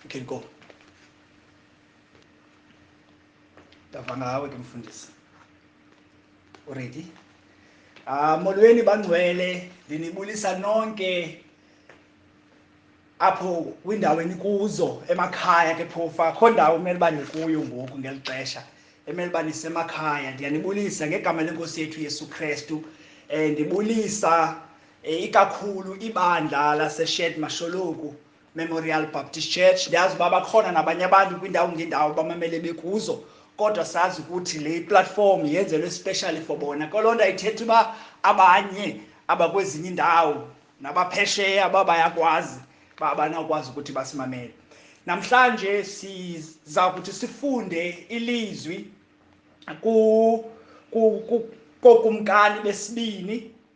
You can go. Ndava ngawe ke mfundisi. Already? Ah molweni bangcwele ndinibulisa nonke apho kwindawo enikuzo emakhaya ke phofa akho ndawo umele uba nikuyo ngoku ngeli xesha emele uba nisemakhaya ndiyanibulisa ngegama lenkosi yethu yesu krestu um ndibulisa Eh, ikakhulu ibandla laseshed masholoku memorial baptist church ndiyazi uba bakhona nabanye abantu kwiindawo ngeendawo bamamele bekuzo kodwa sazi ukuthi le platform yenzelwe especially for bona koloo nto ayithetha uba abanye abakwezinye iindawo nabaphesheya uba bayakwazi uba abanawukwazi ukuthi basimamele namhlanje siza kuthi sifunde ilizwi kokumkani besibini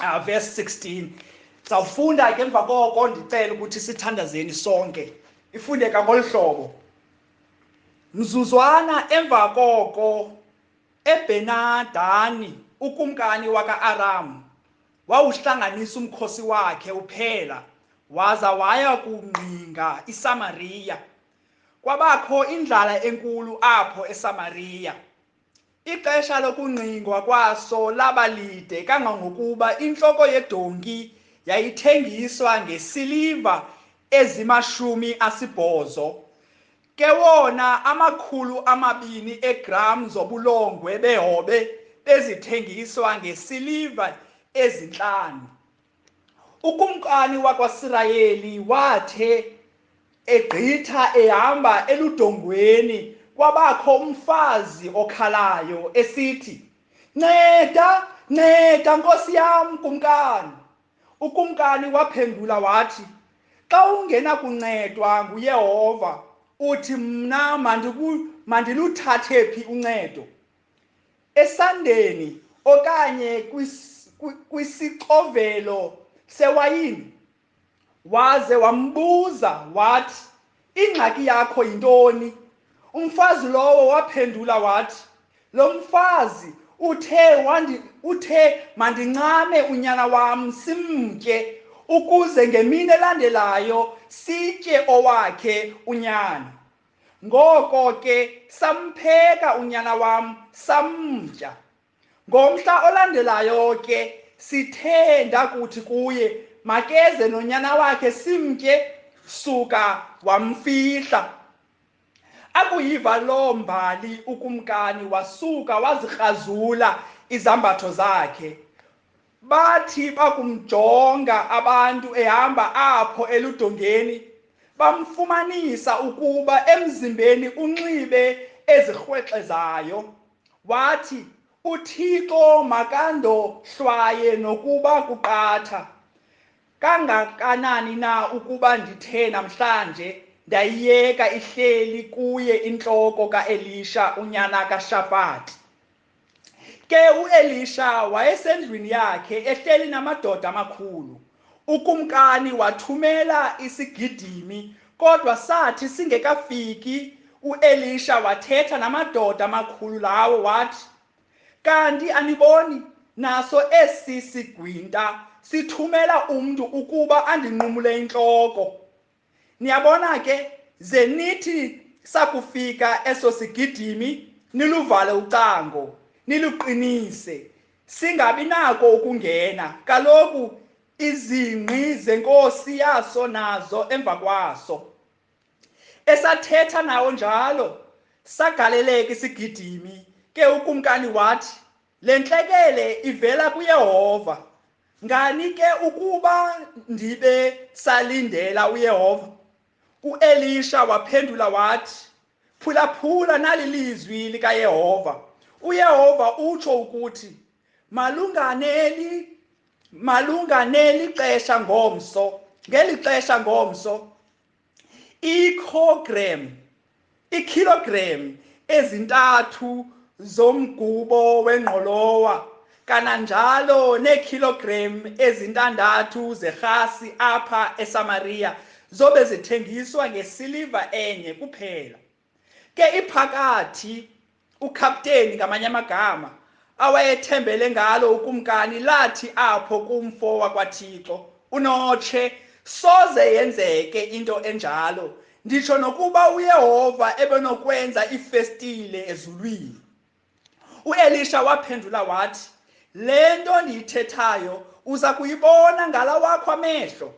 uh, verse 16 sawufunda ke emva koko ndicela ukuthi sithandazeni sonke ifundeka ngolu hlobo mzuzwana emva koko ebenadani ukumkani waka-aramu wawuhlanganisa umkhosi wakhe uphela waza waya kungqinga isamariya kwabakho indlala enkulu apho esamariya Ixesha lokungqingwa kwaso laba lide kangangokuba intloko yedonki yayithengiswa ngesiliva ezimashumi asibhozo. Ke wona amakhulu amabini eegram zobulongwe behobe bezithengiswa ngesiliva ezintlanu. ukumkani wakwaSirayeli wathe egqitha ehamba eludongweni kwabakho umfazi okhalayo esithi nceda nceda nkosi yam kumkani ukumkani waphendula wathi xa ungenakuncedwa nguyehova uthi mna mandiluthathe phi uncedo esandeni okanye kwisixovelo sewayini waze wambuza wathi ingxaki yakho yintoni umfazi lowo waphendula wathi lo mfazi uthe wandi uthe mandincame unyana wam simtye ukuze ngemini elandelayo sitye owakhe unyana Ngoko ke sampheka unyana wam samtya. Ngomhla olandelayo ke sithe ndakuthi kuye makeze nonyana wakhe simtye suka wamfihla. Akuyiva loo mbali ukumkani wasuka wazikrazula izambatho zakhe. Bathi bakumjonga abantu ehamba apho eludongeni, bamfumanisa ukuba emzimbeni unxibe ezirhwexezayo. Wathi, UThixo makandohlwaye nokuba kuqatha kangakanani na ukuba ndithe namhlanje ndayiyeka ihleli kuye intloko kaElisha unyana kaShafati. Ke uElisha wayesendlwini yakhe ehleli namadoda amakhulu. Ukumkani wathumela isigidimi kodwa sathi singekafiki uElisha wathetha namadoda amakhulu lawo wathi, Kanti aniboni naso esi sigwinta sithumela umntu ukuba andinqumule intloko? niyabona ke ze nithi sakufika eso sigidimi niluvale ucango niluqinise singabi nako ukungena kaloku izingqi zenkosi yaso nazo emva kwaso esathetha nawo njalo sagaleleka isigidimi ke ukumkani wathi Le ntlekele ivela kuYehova. Ngani ke ukuba ndibe salindela uYehova? UElisha waphendula wathi, Phulaphula nali lizwi likaYehova. UYehova utsho ukuthi, Malunganeli malunganeli xesha ngomso, ngeli xesha ngomso ikilogram ikilogram ezintathu zomgubo wengqolowa kananjalo neekilogram ezintandathu zerhasi apha esamariya zobe zithengiswa ngesiliva enye kuphela ke iphakathi ukapteni ngamanye amagama awayethembele ngalo ukumkani lathi apho kumfo wakwathixo unotshe soze yenzeke into enjalo nditsho nokuba uyehova ebenokwenza iifestile ezulwini uElisha waphendula wathi le nto ndiyithethayo uza kuyibona ngala wakho amehlo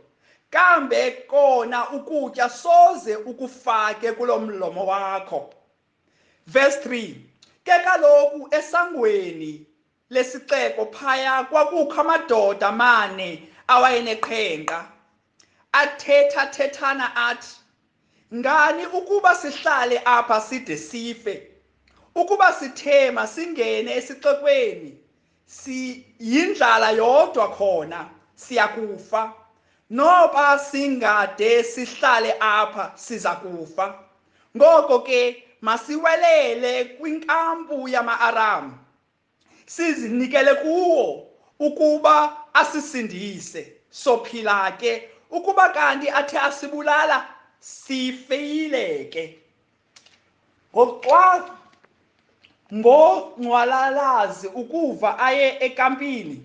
kambe kona ukutya soze ukufake kulo mlomo wakho verse 3 ke kaloku esangweni lesixeko phaya kwakukho amadoda amane awayeneqhenqa athetha thethana athi ngani ukuba sihlale apha side sife ukuba sithema singene esixekweni siyindlala yodwa khona siyakufa noba singade sihlale apha siza kufa ngoko ke masiwelele kwinkampu yama-aramu sizinikele kuwo ukuba asisindise sophila ke ukuba kanti athe asibulala sifeyile ke ngoxa ngongcwalalazi ukuva aye ekampini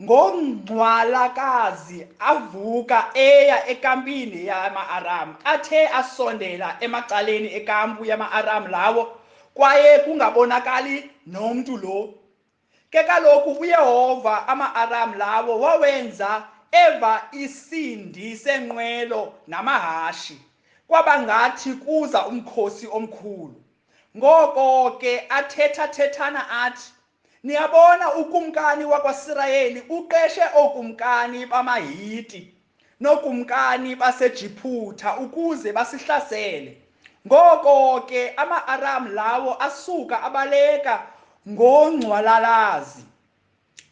ngongcwalakazi avuka eya ekampini yama-aram athe asondela emacaleni ekampu yama-aram lawo kwaye kungabonakali nomntu lo ke kaloku uyehova ama-aram lawo wawenza eva isindi senqwelo namahashi kwaba ngathi kuza umkhosi omkhulu ngoko ke athethathethana athi niyabona ukumkani wakwasirayeli uqeshe ookumkani bamahiti nookumkani basejiphutha ukuze basihlasele ngoko ke ama-aram lawo asuka abaleka ngongcwalalazi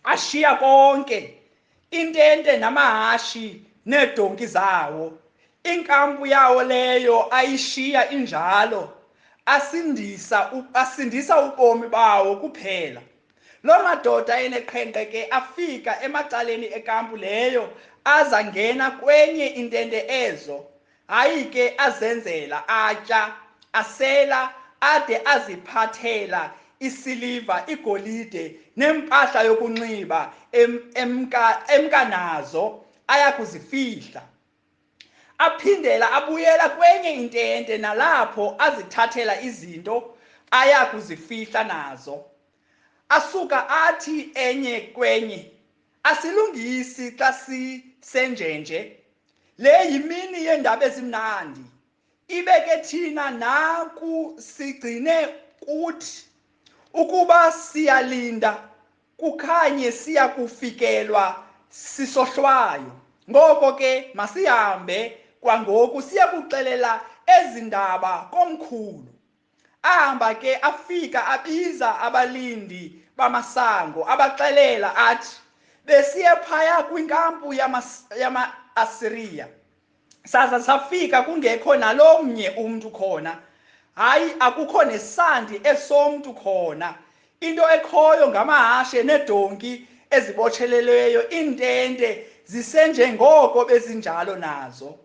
ashiya konke intente namahashi needonki zawo inkampu yawo leyo ayishiya injalo asindisa asindisa ubomi bawo kuphela loo madoda eneqhenqe ke afika emacaleni ekampu leyo aza ngena kwenye intente ezo hayi ke azenzela atya asela ade aziphathela isiliva igolide nempahla yokunxiba emka emka nazo ayakuzifihla aphindela abuyela kwenye intente nalapho azithathela izinto ayakuzifihla nazo asuka athi enye kwenye Asilungisi xa sisenjenje. Le yimini yeendaba ezimnandi. Ibe ke thina naku sigcine kuthi ukuba siyalinda kukhanye siya kufikelwa sisohlwayo. Ngoko ke masihambe kwangoku siya kuxelela ezi ndaba komkhulu. ahamba ke afika abiza abalindi bamasango abaxelela athi besiye phaya kwinkampu yama-asiriya saza safika kungekho nalo mnye umntu khona hayi akukho nesandi esomntu khona into ekhoyo ngamahashe nedonki ezibotshelelweyo iintente zisenjengoko bezinjalo nazo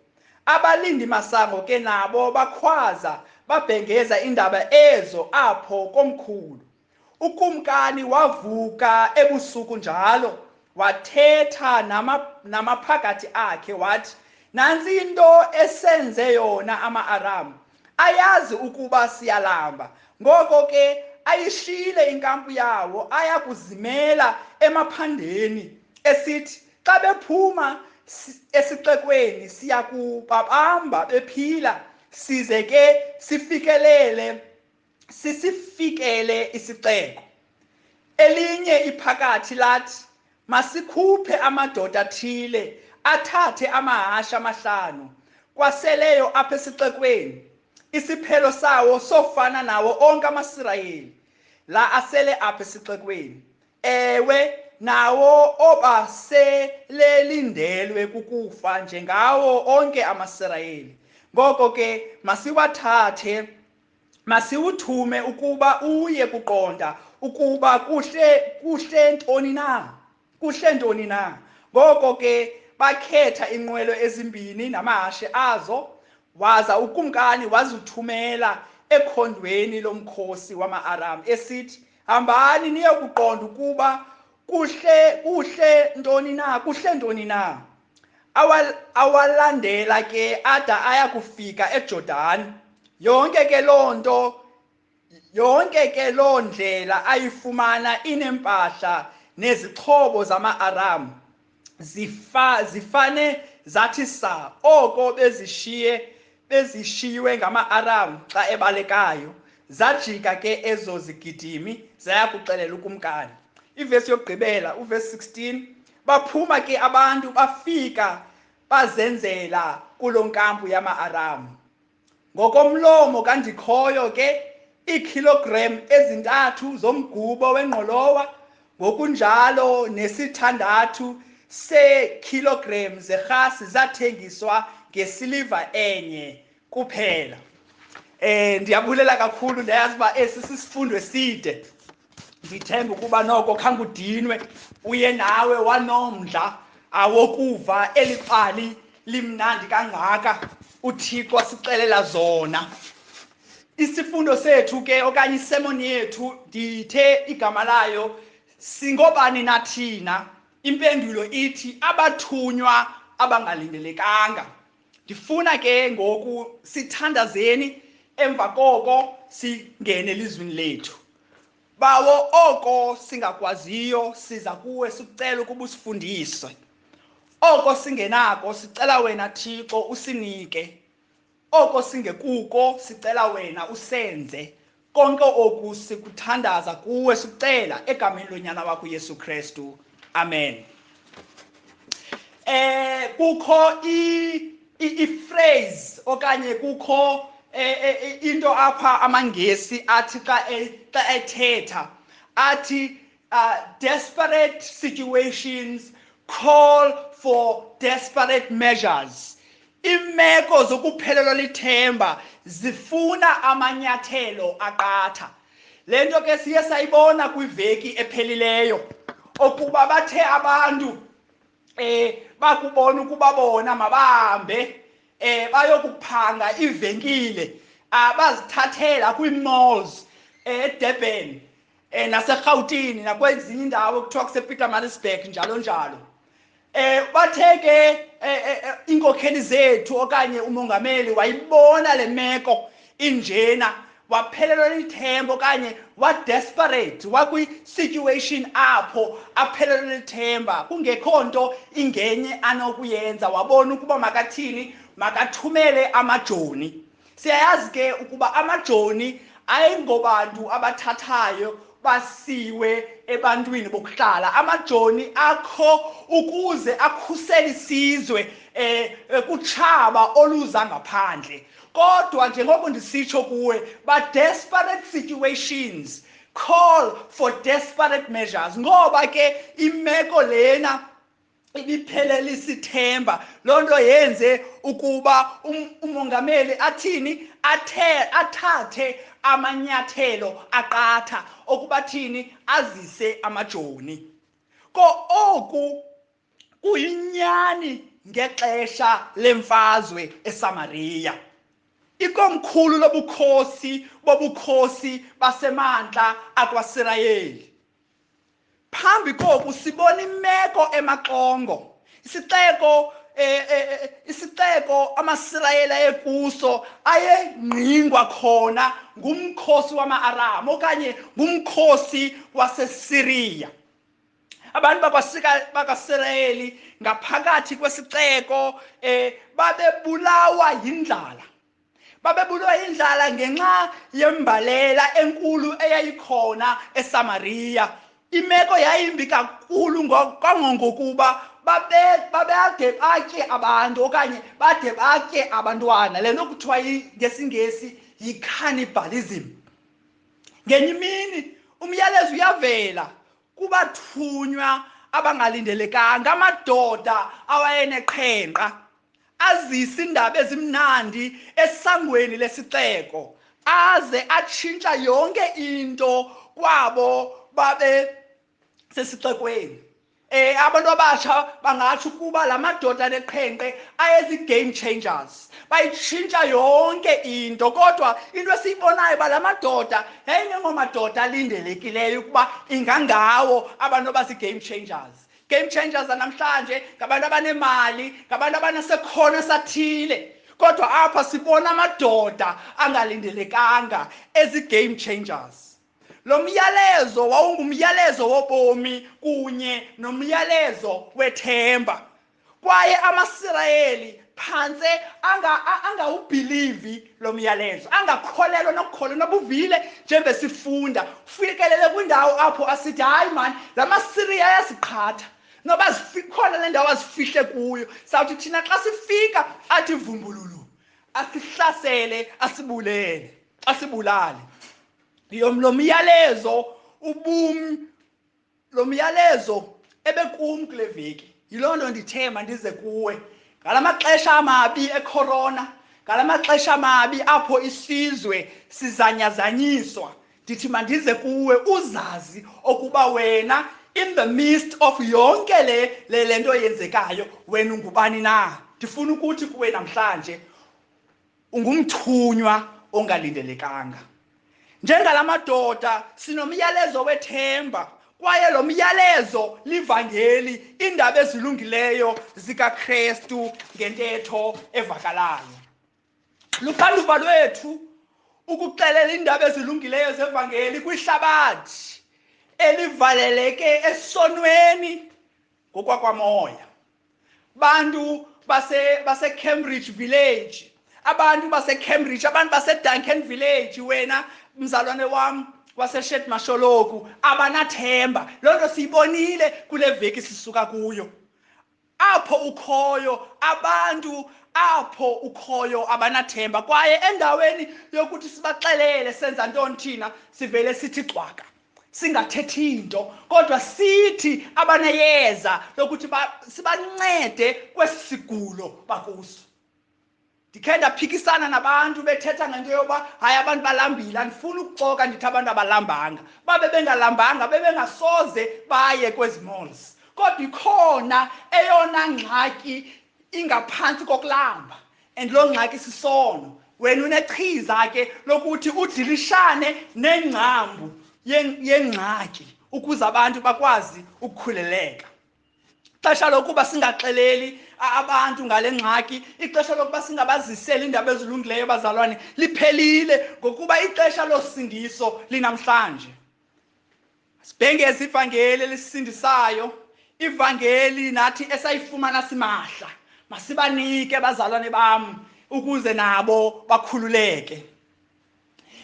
Abalindi masango ke nabo bakhwaza babhengeza indaba ezo apho komkhulu. Ukumkani wavuka ebusuku njalo wathetha nama, namaphakathi akhe wathi nansi into esenze yona ama-aramu ayazi ukuba siyalamba ngoko ke ayishiyile inkampu yawo aya kuzimela emaphandeni esithi xa bephuma esixekweni siya kubabamba bephila size ke sifikelele sisifikele isixeko elinye iphakathi lathi masikhuphe amadoda athile athathe amahasha amahlanu kwaseleyo apha esixekweni isiphelo sawo sofana nawo onke amasirayeli la asele apha esixekweni ewe nawo obaselelindelwe kukufa njengawo onke amasirayeli ngoko ke masiwathathe masiwuthume ukuba uye kuqonda ukuba kuhle kuhle ntoni na kuhle ntoni na ngoko ke bakhetha inqwelo ezimbini namahashe azo waza ukumkani wazithumela ekhondweni lomkhosi wama-aram esithi hambani niye kuqonda ukuba kuhle kuhle ntoni na kuhle ntoni na awalandela ke ada aya kufika ejordani yonke ke loo nto yonke ke loo ndlela ayifumana inempahla nezixhobo zama-aramu zifa zifane zathi sa oko bezishiye bezishiywe ngama-aram xa ebalekayo zajika ke ezo zigidimi zaya kuxelela ukumkani ivesi yokugqibela uvesi 16 baphuma ke abantu bafika bazenzela kulo nkampu yama-aramu Ngokomlomo kaNdikhoyo ke iikhilogram ezintathu zomgubo wengqolowa ngokunjalo nesithandathu seekhilogram zerhasi zathengiswa ngesiliva enye kuphela. Eh ndiyabulela kakhulu ndayazi uba esi sisifundo eside. ndithemba ukuba noko khangudinwe uye nawe wanomdla awokuva eli pali limnandi kangaka uthixo asixelela zona isifundo sethu ke okanye isemoni yethu ndithe igama layo singobani nathina impendulo ithi abathunywa abangalindelekanga ndifuna ke ngoku sithandazeni emva koko singene elizwini lethu bawo oko singakwaziyo siza kuwe sikucela ukuba usifundise oko singenako sicela wena thixo usinike oko singekuko sicela wena usenze konke oku sikuthandaza kuwe sicela egameni lonyana wakho uyesu kristu amen eh kukho i i-phrase okanye kukho eh, eh, eh, into apha amangesi athi xa e, xa ethetha athi uh, desperate situations call for desperate measures imeko zokuphelelwa lithemba zifuna amanyathelo aqatha le nto ke siye sayibona kwiveki ephelileyo okuba bathe abantu um eh, bakubona ukuba bona mabahambe um eh, bayokuphanga ivenkile abazithathela ah, kwii-malls eh, edurban eh naserhawutini nakwezinye indawo kuthiwa kusepeter marisburg njalo njalo eh bathe ke eh, eh, eh, inkokheli zethu okanye umongameli wayibona le meko injena waphelelwa lithemba okanye wadesperate wakwi-situation apho aphelelwe lithemba kungekho nto ingenye anokuyenza wabona ukuba makathini makathumele amajoni siyayazi ke ukuba amajoni ayingobantu abathathayo basiwe ebantwini bokuhlala amajoni akho ukuze akhusele isizwe eh, eh kutshaba oluza ngaphandle kodwa njengoko ndisitsho kuwe ba desperate situations call for desperate measures ngoba ke imeko lena ibiphelele isithemba loo nto yenze ukuba um, umongameli athini athe athathe amanyathelo aqatha okuba thini azise amajoni ko oku kuyinyani ngexesha lemfazwe esamariya ikomkhulu lobukhosi bobukhosi basemantla akwasirayeli phambi koku sibona imeko emaxongo isixeko eh, eh, eh, isixeko amasirayeli ayekuso ayengqingwa khona ngumkhosi wama-aram okanye ngumkhosi wasesiriya abantu bakasirayeli ngaphakathi kwesixeko um babebulawa yindlala babebulwa indlala ngenxa yembalela enkulu eyayikhona esamariya imeko yayimbi kakhulu kangongokuba babade batye abantu okanye bade batye abantwana le nto kuthiwa ngesingesi yi-cannibalism ngenye imini umyalezo uyavela kubathunywa abangalindelekanga amadoda awayeneqhenqa azise indaba ezimnandi esangweni lesixeko aze atshintsha yonke into kwabo babe sesixekweni eh abantu abasha bangathi ukuba lamadoda neqhenqe ayezi game changers bayitshintsha yonke into kodwa into esiyibonayo ba lamadoda yayingengomadoda alindelekileyo ukuba ingangawo abantu abasi game changers game changers namhlanje ngabantu abanemali ngabantu abanasekhono esathile kodwa apha sibona amadoda angalindelekanga ezi-game changers lo myalezo wawungumyalezo wobomi kunye nomyalezo wethemba kwaye amasirayeli phantse angawubhilivi lo myalezo angakholelwa nokukholwa nobuvile njengoba sifunda kufikelele kwindawo apho asithi hayi mani la masiriya ayasiqhatha noba zikhona le ndawo azifihle kuyo sawuthi thina xa sifika athi vumbululu asihlasele asibulele asibulale lo myalezo ubumi lo myalezo ebekum kule veki yiloo nto ndithe mandize kuwe ngala maxesha amabi ekhorona ngala maxesha amabi apho isizwe sizanyazanyiswa ndithi mandize kuwe uzazi okuba wena in the midst of yonke le le lento yenzekayo wena ungubani na ndifuna ukuthi kuwe namhlanje Ungumthunywa ongalindelekanga. Njengala madoda sinomyalezo wethemba kwaye lo myalezo livangeli iindaba ezilungileyo zikaKristu ngentetho evakalayo. Luxanduva lwethu ukuxelela iindaba ezilungileyo zevangeli kwihlabathi elivaleleke esonweni ngokwakwamoya bantu basecambridge base village abantu basecambridge abantu baseduncan village wena mzalwane wam waseshed masholoku abanathemba loo nto siyibonile kule veki sisuka kuyo apho ukhoyo abantu apho ukhoyo abanathemba kwaye endaweni yokuthi sibaxelele senza ntoni thina sivele sithi cwaka singathethi nto kodwa sithi abaneyeza lokuthi sibancede kwesi sigulo bakuso ndikhe ndaphikisana nabantu bethetha ngento yoba hayi abantu balambile andifuni ukuxoka ndithi abantu abalambanga babe bengalambanga bebengasoze baye kwezi malls kodwa ikhona eyona ngxaki ingaphantsi kokulamba and loo ngxaki sisono wena unechiza ke lokuthi udilishane nengcambu yengxaki ukuze abantu bakwazi ukukhuleleka ixesha lokuba singaxeleli abantu ngale ngxaki ixesha lokuba singabaziseli iindaba ezilungileyo abazalwane liphelile ngokuba ixesha losindiso linamhlanje sibhengeza ivangeli elisisindisayo ivangeli nathi esayifumana simahla masibanike bazalwane bam ukuze nabo bakhululeke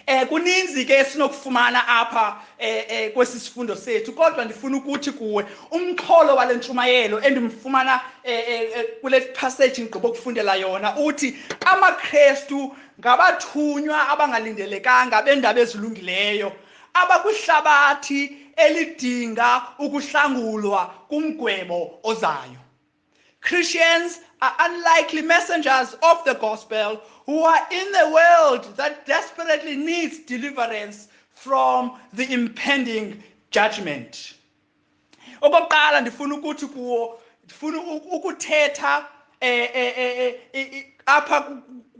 eh kuninzi ke esinokufumana apha eh, eh kwesi sifundo sethu kodwa ndifuna ukuthi kuwe umxholo wale ntshumayelo endimfumana eh, eh, eh kule passage ngigqiba ukufundela yona uthi amaKristu ngabathunywa abangalindelekanga bendaba ezilungileyo abakwihlabathi elidinga ukuhlangulwa kumgwebo ozayo. Christians are unlikely messengers of the gospel who are in the world that desperately needs deliverance from the impending judgment. okokuqala ndifuna ukuthi kuwo ndifuna ukuthetha eh, eh, eh, apha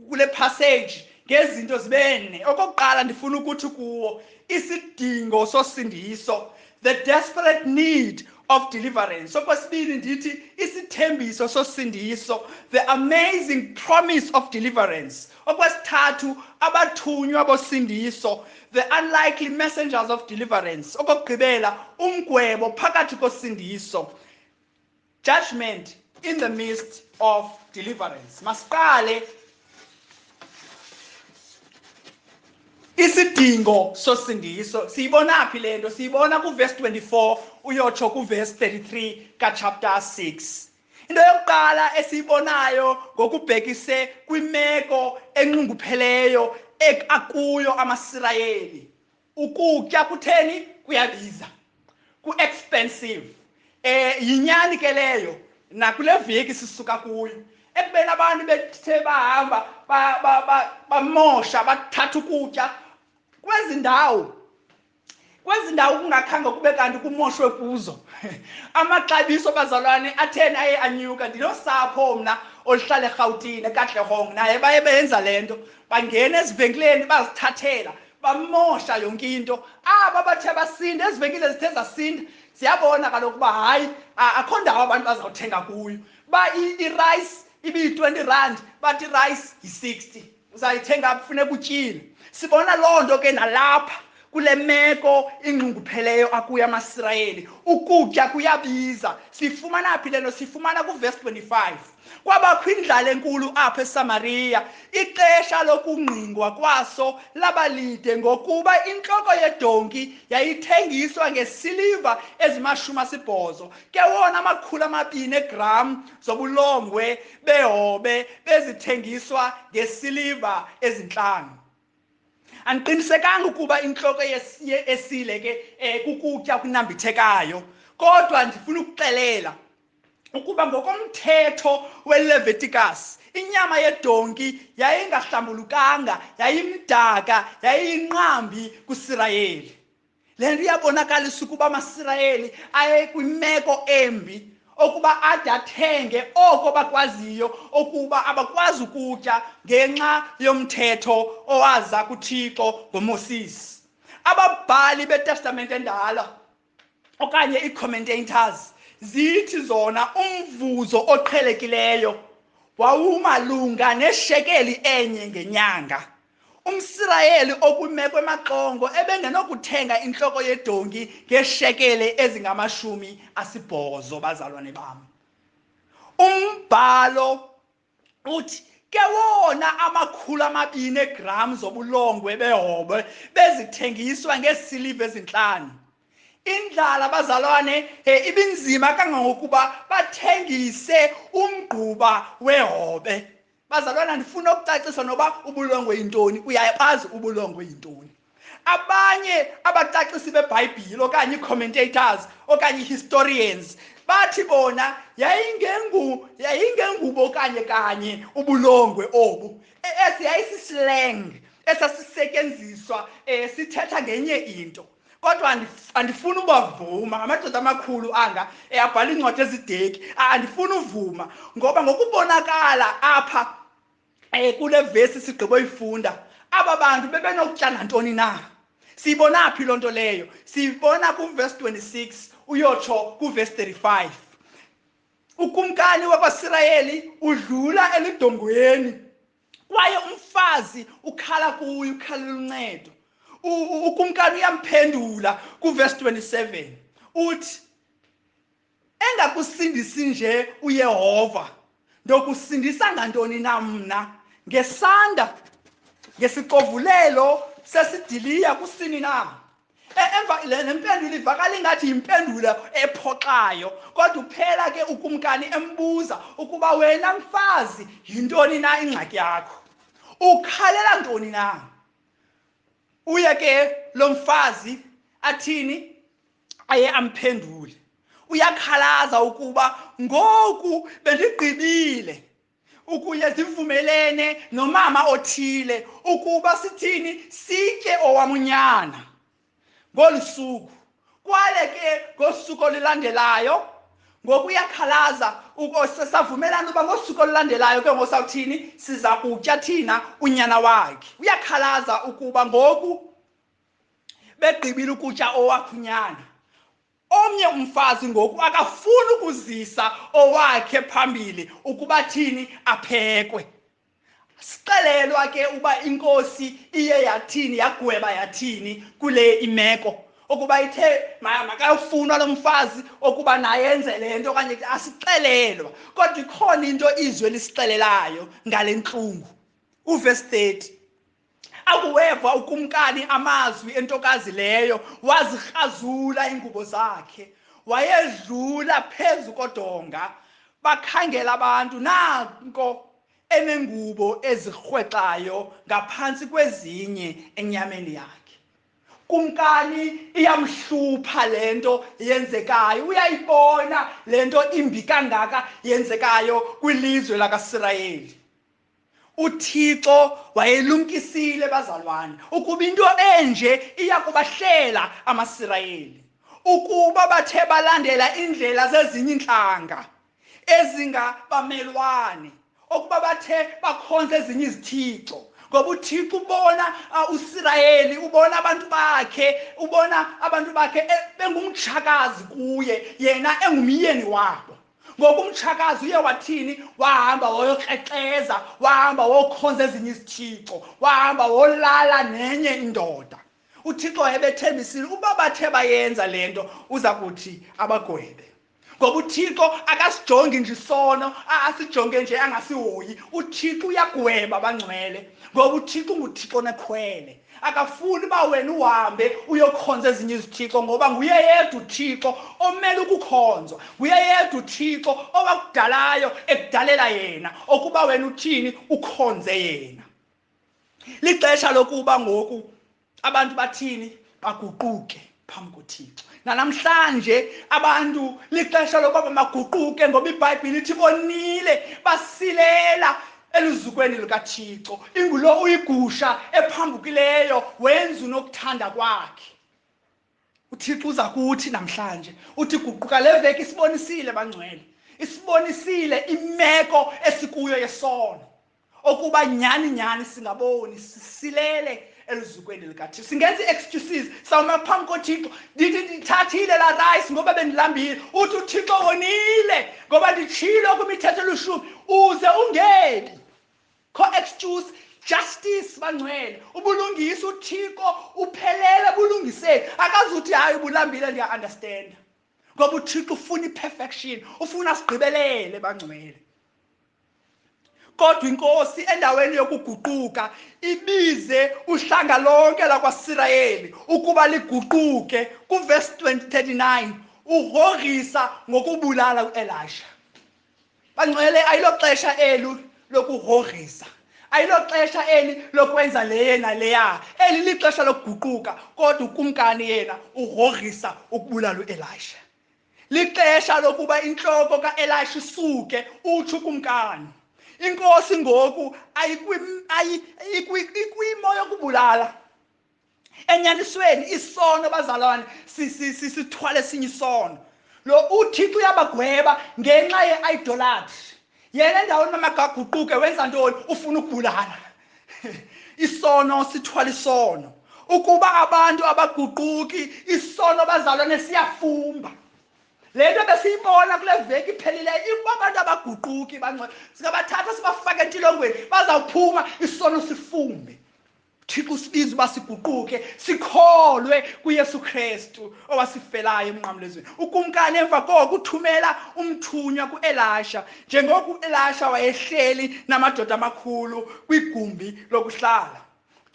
kule passage ngezinto zibene okokuqala ndifuna ukuthi kuwo isidingo sosindiso the desperate need of deliverance okwesibili ndithi isithembiso sosindiso the amazing promise of deliverance okwesithathu abathunywa bosindiso the unlikely messengers of deliverance okokugqibela umgwebo phakathi kosindiso judgment in the midst of deliverance masiqale isidingo sosindiso siyibonaphi le nto siyibona kuvesi 24 uyotsho kuvesi 33 kachapter 6 into yokuqala esiyibonayo ngokubhekise kwimeko enxungupheleyo akuyo amasirayeli ukutya kutheni kuyabiza ku-expensive um yinyani ke leyo nakule veki sisuka kuyo ekubeni abantu bethe bahamba bamosha bathatha ukutya kwezi ndawo kwezi ndawo kungakhange kube kanti kumoshwe kuzo amaxabiso bazalwane atheni aye anyuka ndinosapho mna oluhlala erhawutini ekatlehong naye baye benza le nto bangena ezivenkileni bazithathela bamosha yonke into aba bathe basinda ezivenkile zithe zasinda siyabona kaloku uba hayi akho ndawo abantu bazawuthenga kuyo ba irayisi ibiyi-20 rand bathi irayisi yi-60 uzayithenga apho funeka utyile sibona loo nto ke nalapha kule meko ingqungupheleyo akuyo amasirayeli ukutya kuyabiza siyifumana phi le nto siyifumana kuvesi 25 kwabakho indlala enkulu apha esamariya ixesha lokungqingwa kwaso labalide ngokuba intloko yedonki yayithengiswa ngesiliva ezimashumi asibhozo ke wona amakhulu amabini egram zobulongwe behobe bezithengiswa ngesiliva ezintlanu andiqinisekanga ukuba intloko esile ke um kukutya okunambithekayo kodwa ndifuna ukuxelela ukuba ngokomthetho weleviticus inyama yedonki yayingahlambulukanga yayimdaka yayiyinqambi kusirayeli le nto iyabonakalisa ukuba amasirayeli ayekwimeko embi okuba ade athenge oko bakwaziyo okuba abakwazi ukutya ngenxa yomthetho owaza kuthixo ngomosisi ababhali betestamente endala okanye ii-commentators zithi zona umvuzo oqhelekileyo wawumalunga neshekeli enye ngenyanga umsirayeli okwimeko emaxongo ebengenokuthenga intloko yedonki ngeeshekele ezingamashumi asibhozo bazalwane bam umbhalo uthi ke wona amakhulu amabini eegram zobulongwe behobwe bezithengiswa ngeesiliva ezintlanu indlala bazalwane he ibinzima kangangokuba bathengise umgquba wehobe bazalwana ndifuna ukucacisa noba ubulongwe yintoni uyayabazi ubulongwe yintoni abanye abacacisi bebhayibhile okanye ii-commentators okanye ii-historians bathi bona yayingengu yayingengubo kanye kanye ubulongwe obu e, esi yayisislang esasisetyenziswa um sithetha ngenye into kodwa andifuni ubavuma amadoda amakhulu anga eyabhala iincwadi ezideki andifuni uvuma ngoba ngokubonakala apha um kule vesi sigqiboyifunda aba bantu bebenokutya nantoni na siyibona phi loo nto leyo siyibona kuvesi 26 uyotsho kuvesi 35 ukumkani wakwasirayeli udlula eludongweni kwaye umfazi ukhala kuye ukhalela uncedo ukumkani uyamphendula kuvesi 27 uthi engakusindisi nje uyehova ndokusindisa ngantoni na mna ngesanda ngesixovulelo sesidiliya kusini na E- emva le le mpendulo ivakala ingathi yimpendulo ephoxayo kodwa uphela ke ukumkani embuza ukuba wena mfazi yintoni na ingxaki yakho ukhalela ntoni na uye ke lo mfazi athini aye amphendule uyakhalaza ukuba ngoku bendigqibile ukuya zivumelene nomama othile ukuba sithini sitye owamunyana ngolu suku kwale ke ngosuku olulandelayo ngokuyakhalaza savumelana uba ngosuku olulandelayo ke ngosawuthini siza kutya thina unyana wakhe uyakhalaza ukuba ngoku begqibile ukutya owakhunyana omnye umfazi ngoku akafuni ukuzisa owakhe phambili ukuba thini aphekwe sixelelwa ke uba inkosi iye yathini yagweba yathini kule imeko ukuba ithe makayofunwa lo mfazi okuba naye enze le nto okanye asixelelwa kodwa ikhona into izwi elisixelelayo ngale ntlungu uvesi 30 akuweva ukumkani amazwi entokazi leyo wazikrazula iingubo zakhe wayedlula phezu kodonga bakhangela abantu nanko enengubo ezirhwexayo ngaphantsi kwezinye enyameni yakhe kumkani iyamhlupha le nto yenzekayo uyayibona le nto imbi kangaka yenzekayo kwilizwe lakasirayeli uthixo wayelumkisile bazalwane ukuba into enje iya kubahlela amasirayeli ukuba bathe balandela iindlela zezinye iintlanga ezingabamelwane okuba bathe bakhonza ezinye izithixo ngoba uthixo ubona uh, usirayeli ubona abantu bakhe ubona abantu bakhe e, bengumtshakazi kuye yena engumyeni wabo ngoba umtshakazi uye wathini wahamba woyokrexeza wahamba wokhonza ezinye izithixo wahamba wolala nenye indoda uthixo wayebethembisile uba bathe bayenza le nto uza kuthi abagwebe ngoba uthixo akasijongi nje isono asijonge nje angasihoyi uthixo uyagweba abangcwele ngoba uthixo unguthixo nekhwele akafuni uba wena uhambe uyokhonza ezinye izithixo ngoba nguye yedwa uthixo omele ukukhonzwa nguye yedwa uthixo owakudalayo ekudalela yena okuba wena uthini ukhonze yena lixesha lokuba ngoku abantu bathini baguquke phambi kothixo nanamhlanje abantu lixesha lokuba bamaguquke ngoba ibhayibhile ithi bonile basilela eluzukweni lukathixo ingulo uyigusha ephambukileyo wenza unokuthanda kwakhe uthixo uza kuthi namhlanje uthi guquka le veki isibonisile bangcwele isibonisile imeko esikuyo yesono okuba nyhani nyhani singaboni sisilele elizukweni likathixo singenza i-excuses sawuma phambi kothixo ndithi ndithathile laa rice ngoba bendilambile uthi uthixo wonile ngoba nditshilo kwimithetho elishumi uze ungebi kho excuse justice bangcwele ubulungisa uthixo uphelele bulungiseni akazuthi hayi ubulambile ndiya-understanda ngoba uthixo ufuna i-perfection ufuna sigqibelele bangcwele kodwa inkosi endaweni yokuguquka ibize uhlanga lonke lakwasirayeli ukuba liguquke kuvesi 39 urhorisa ngokubulala uelisha bangcwele ayiloxesha elu lokurhorisa ayiloxesha eli lokwenza leye naleya eli lixesha lokuguquka kodwa ukumkani yena urhorisa ukubulala uelisha lixesha lokuba intloko kaelisha isuke utsho ukumkani inkosi ngoku ikwimo yokubulala enyanisweni isono bazalwane sithwale esinye isono lo uthixo uyabagweba ngenxa ye-idolatry yena endaweni mamagaguquke wenza ntoni ufuna ukubulala isono sithwala isono ukuba abantu abaguquki isono bazalwane siyafumba le nto besiyibona kule veki iphelileyo ikuba abantu abaguquki bangcwe singabathatha sibafake entilongweni bazawuphuma isono sifumbe thixo usibiza uba siguquke sikholwe kuyesu kristu owasifelayo emnqamlezweni ukumkani emva koko uthumela umthunywa kuelasha njengoko uelasha wayehleli namadoda amakhulu kwigumbi lokuhlala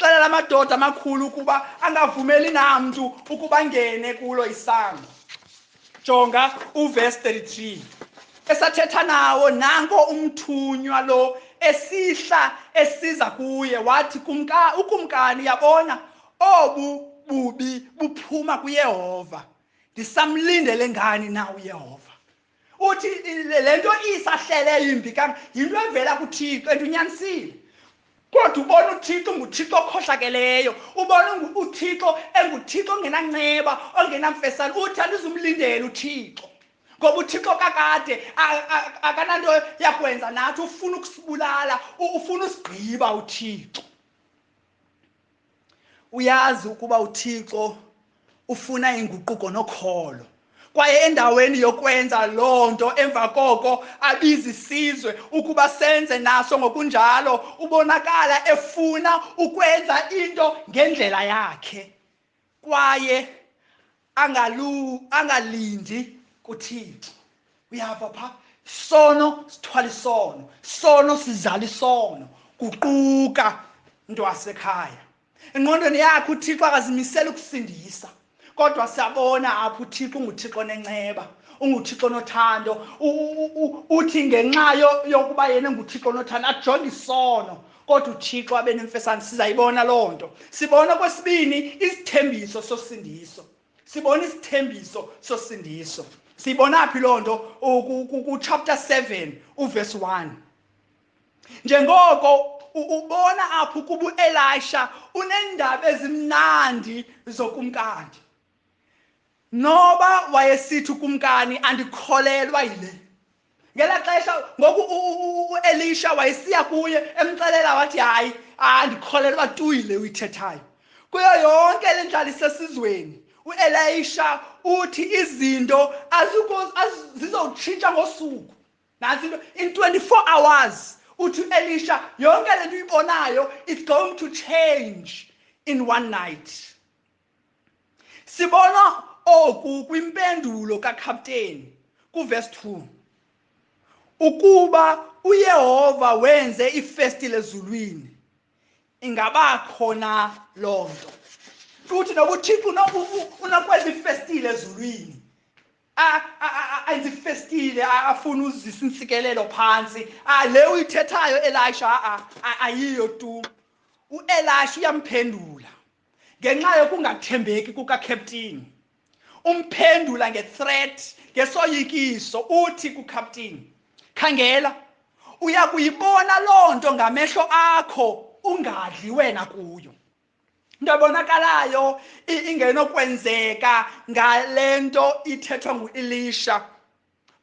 xelela amadoda amakhulu ukuba angavumeli namntu ukuba ngene kulo isango jonga uvesi 33 esathetha nawo nanko umthunywa lo esihla esiza kuye wathi kumka ukumkani yabona obu bubi buphuma kuyehova ndisamlindele ngani na uyehova uthi le nto isahlele yimbi yinto evela kuthixo and unyanisile kodwa ubona uthixo nguthixo okhohlakeleyo ubona uthixo enguthixo ongenanceba ongenamfesana uthi andizumlindela uthixo ngoba uthixo kakade akananto yakwenza nathi ufuna ukusibulala ufuna usigqiba uthixo uyazi ukuba uthixo ufuna inguquko nokholo kwaye endaweni yokwenza loo nto emva koko abiza isizwe ukuba senze naso ngokunjalo ubonakala efuna ukwenza into ngendlela yakhe kwaye angalu angalindi kuthixo uyava pha sono sithwala isono sono sizala isono kuquka into wasekhaya engqondweni yakhe uthixo akazimisela ukusindisa kodwa siyabona apho uthixo unguthixo nenceba unguthixo nothando uthi ngenxa yokuba yena enguthixo nothando ajonge isono kodwa uthixo abe nemfesane sizayibona loo nto sibona kwesibini isithembiso sosindiso sibona isithembiso sosindiso siyibona phi loo nto kuchapter 7 uvesi 1 njengoko ubona apho ukuba uelisha uneendaba ezimnandi zokumkandi noba wayesithi ukumkani andikholelwa yile ngela xesha ngoku uelisha wayesiya kuye emxelela wathi hayi andikholelwa tuyile uyithethayo kuyo yonke le ndlala isesizweni uelisha uthi izinto zizowutshintsha ngosuku nantsi into in 24 hours uthi uelisha yonke le nto uyibonayo it's going to change in one night sibona oku kwimpendulo kakhapteni kuvesi 2 ukuba uyehova wenze ifestile ezulwini ingaba khona loo nto futhi noba uthixo unokwenza ifestile ezulwini enza ifestile afune uzisa intsikelelo phantsi le uyithethayo elisha ayiyo tu uelisha uyamphendula ngenxa yokungathembeki kukakheptini umphendula ngethreat ngesoyikiso uthi kukhaptini khangela uya kuyibona loo nto ngamehlo akho ungadli wena kuyo into ebonakalayo ingenokwenzeka ngale nto ithethwa nguelisha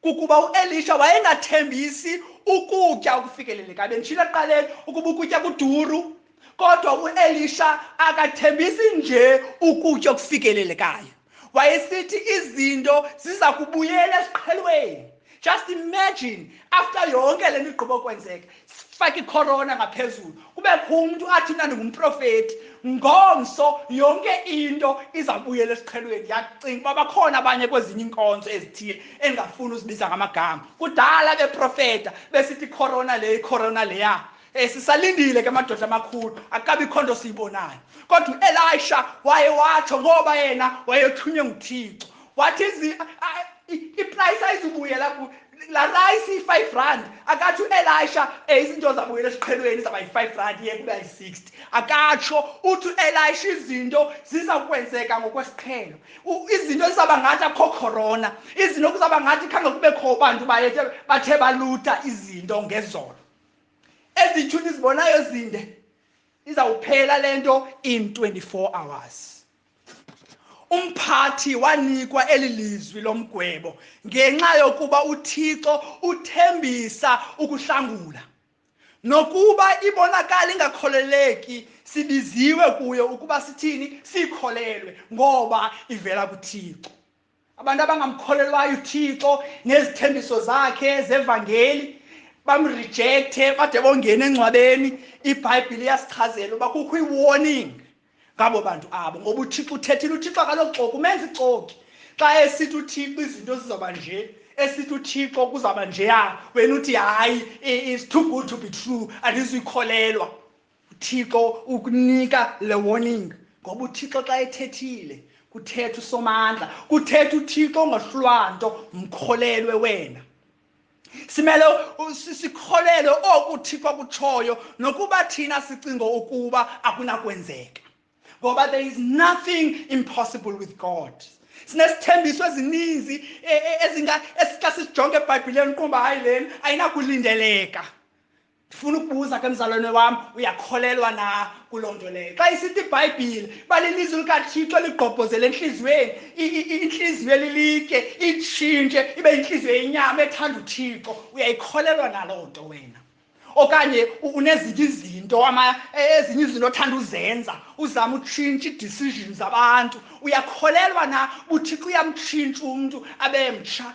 kukuba uelisha wayengathembisi ukutya okufikeleleka bendishilo ekuqaleni ukuba ukutya kuduru kodwa uelisha akathembisi nje ukutya okufikelelekayo wayesithi izinto ziza kubuyela esiqhelweni just imagine after yonke le nto igqiba kwenzeka fake ikhorona ngaphezulu kubekho umntu athi mna ndingumprofeti ngomso yonke into izawubuyela esiqhelweni yacinga uba bakhona abanye kwezinye iinkonzo ezithile endingafuni uzibiza ngamagama kudala beprofeta besithi ikhorona le ikhorona leya Eh sisalindile ke amadoda amakhulu akabikho nto siyibonayo kodwa uElisha waye watsho ngoba yena wayethunywe nguThixo wathi iprice ayizubuyela ku la rice iyi-five rand akatsho uelisha um izinto zabuyela esiqhelweni zaba yi-five rand iye kuba yi-sixty akatsho uthi uelisha izinto ziza kwenzeka ngokwesiqhelo izinto zizawuba ngathi akho khorona izinto kuzawuba ngathi khange kubekho bantu bayethe bathe baluta izinto ngezolo ezi tshuni zibonayo zinde izawuphela le nto in 24 hours umphathi wanikwa eli lizwi lomgwebo ngenxa yokuba uthixo uthembisa ukuhlangula nokuba ibonakala ingakholeleki sibiziwe kuyo ukuba sithini sikholelwe ngoba ivela kuthixo abantu abangamkholelwayo uthixo nezithembiso zakhe zevangeli bamrijekthe bade bongena engcwabeni ibhayibhile iyasichazela uba kukho i-warning ngabo bantu abo ngoba uthixo uthethile uthixo akaloxoki umenza ixoki xa esithi uthixo izinto zizawuba nje esithi uthixo kuzawuba njeya wena uthi hayi it's too good to be true andizuyikholelwa uthixo ukunika le warning ngoba uthixo xa ethethile kuthetha usomandla kuthetha uthixo ongahlulwa nto mkholelwe wena simele sikholelwe oku uthixo akutshoyo nokuba thina sicingo ukuba akunakwenzeka ngoba there is nothing impossible with god sinesithembiso ezininzi e, e, ezinga esixa sisijonge ebhayibhileni ukuba hayi leni ayinakulindeleka ndifuna ukubuza ke mzalwane wam uyakholelwa na kuloo nto leyo xa isithi ibhayibhile balilizwi likathixo ligqobhozele entliziyweni intliziyo elilitye itshintshe ibe yintliziyo yenyama ethanda uthixo uyayikholelwa naloo nto wena okanye unezinye izinto e, ezinye izinto othanda uzenza uzama utshintsha ii-decision zabantu uyakholelwa na buthixo uyamtshintsha umntu abe mtsha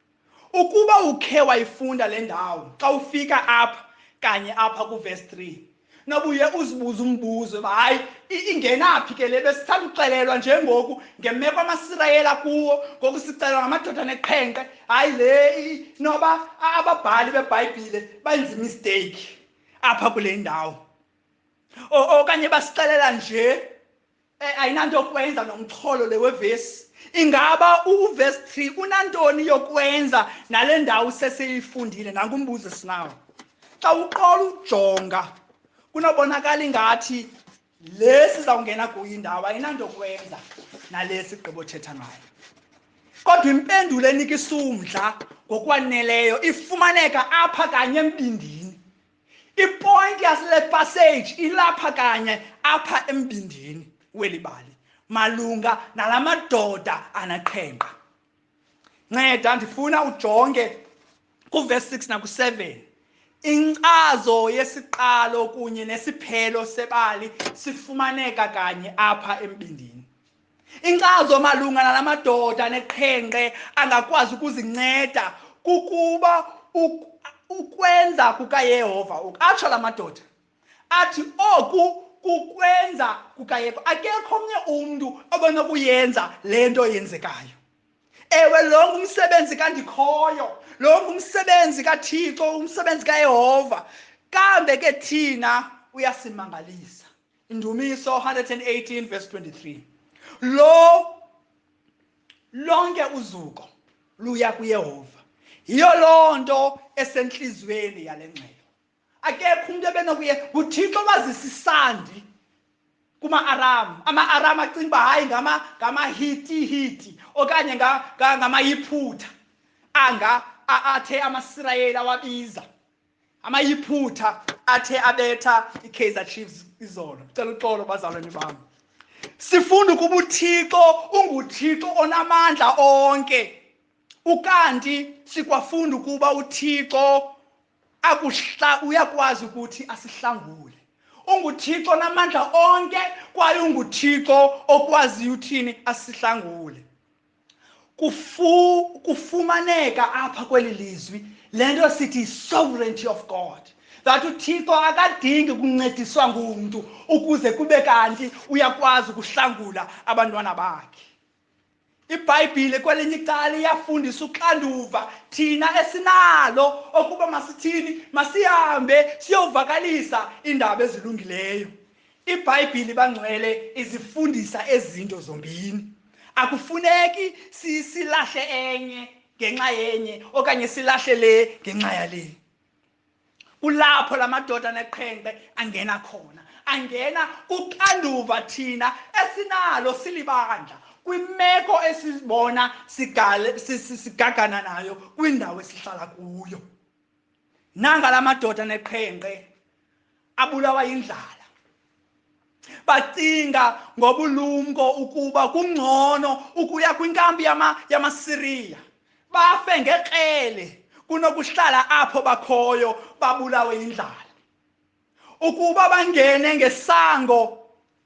ukuba ukhe wayifunda le ndawo xa ufika apha kanye apha kuvesi 3 nobuye uzibuze umbuzo uba hayi ingenaphi ke le besithanda uxelelwa njengoku ngemeko amasirayela kuwo ngoku sixelelwa ngamadoda neqhenqe hayi le noba ababhali bebhayibhile benza imisteyikhi apha kule ndawo okanye basixelela nje Eh, ayinanto yokwenza nomxholo le wevesi ingaba uvesi 3 unantoni yokwenza nale ndawo sesiyifundile nankumbuzo esinawo xa uqola ujonga kunobonakala ingathi le sizawungena kuyo indawo ayinanto yokwenza nale sigqibothetha ngayo kodwa impendulo enika isumdla ngokwaneleyo ifumaneka apha kanye embindini ipointi yasele passage ilapha kanye apha embindini weli bali malunga nala madoda anaqhenqa nceda ndifuna ujonge kuvesi 6 naku-7 inkcazo yesiqalo kunye nesiphelo sebali sifumaneka kanye apha embindini Inkcazo malunga nala madoda neqhenqe angakwazi ukuzinceda kukuba ukwenza kukaYehova atsho la madoda athi oku kukwenza kukayehova akekho omnye umntu obenokuyenza le nto yenzekayo ewe lo ngumsebenzi kandikhoyo lo ngumsebenzi kathixo umsebenzi kayehova kambe ke thina uyasimangalisa Indumiso 118 verse 23. Lo lonke uzuko luya kuYehova. Yiyo loo nto esentliziyweni yale ngxelo. Akekho umntu ebenokuye nguThixo wazisa isandi kuma-aram ama-aram acinga uba hayi ngamahitihiti okanye ngamayiphutha anga athe amasirayeli awabiza amayiphutha athe abetha ikaizer chiefs izolo cela uxolo bazalwane bam sifunda ukuba uthixo unguthixo onamandla onke ukanti sikwafunda ukuba uthixo akuhla uyakwazi ukuthi asihlangule unguthixo onamandla onke kwaye unguthixo okwaziyo uthini asihlangule kufu kufumaneka apha kweli lizwi le nto sithi sovereignty of god that uthixo akadingi kuncediswa ngumntu ukuze kube kanti uyakwazi ukuhlangula abantwana bakhe ibhayibhile kwelinye icala iyafundisa uxanduva thina esinalo okuba masithini masihambe siyovakalisa iindaba ezilungileyo ibhayibhile bangcwele izifundisa ezinto zombini akufuneki silahle enye ngenxa yenye okanye silahle le ngenxa yale kulapho la madoda neqhenqe angena khona angena kuxanduva thina esinalo silibandla kwimeko esibona sigagana nayo kwindawo esihlala kuyo nanga la madoda neqhenqe abulawa yindlala bacinga ngobulumko ukuba kungcono ukuya kwinkambi yamasiriya bafe ngekrele kunokuhlala apho bakhoyo babulawe yindlala ukuba bangene ngesango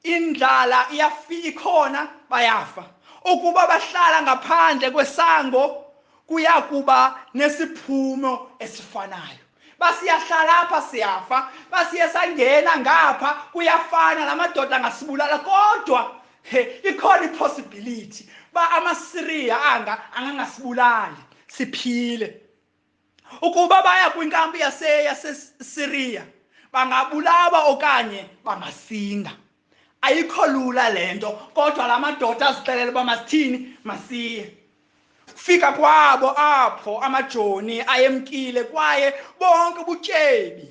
indlala iyafika ikhona bayafa ukuba bahlala ngaphandle kwesango kuyakuba nesiphumo esifanayo basiyahlala apha siyafa basiye sangena ngapha kuyafana la madoda angasibulala kodwa he ikhona ipossibility ba amasiriya anga angangasibulali siphile ukuba baya kwinkampi yasesiriya bangabulawa okanye bangasinda ayikho lula le nto kodwa la madoda azixelele uba masithini masiye kufika kwabo apho amajoni ayemkile kwaye bonke ubutyebi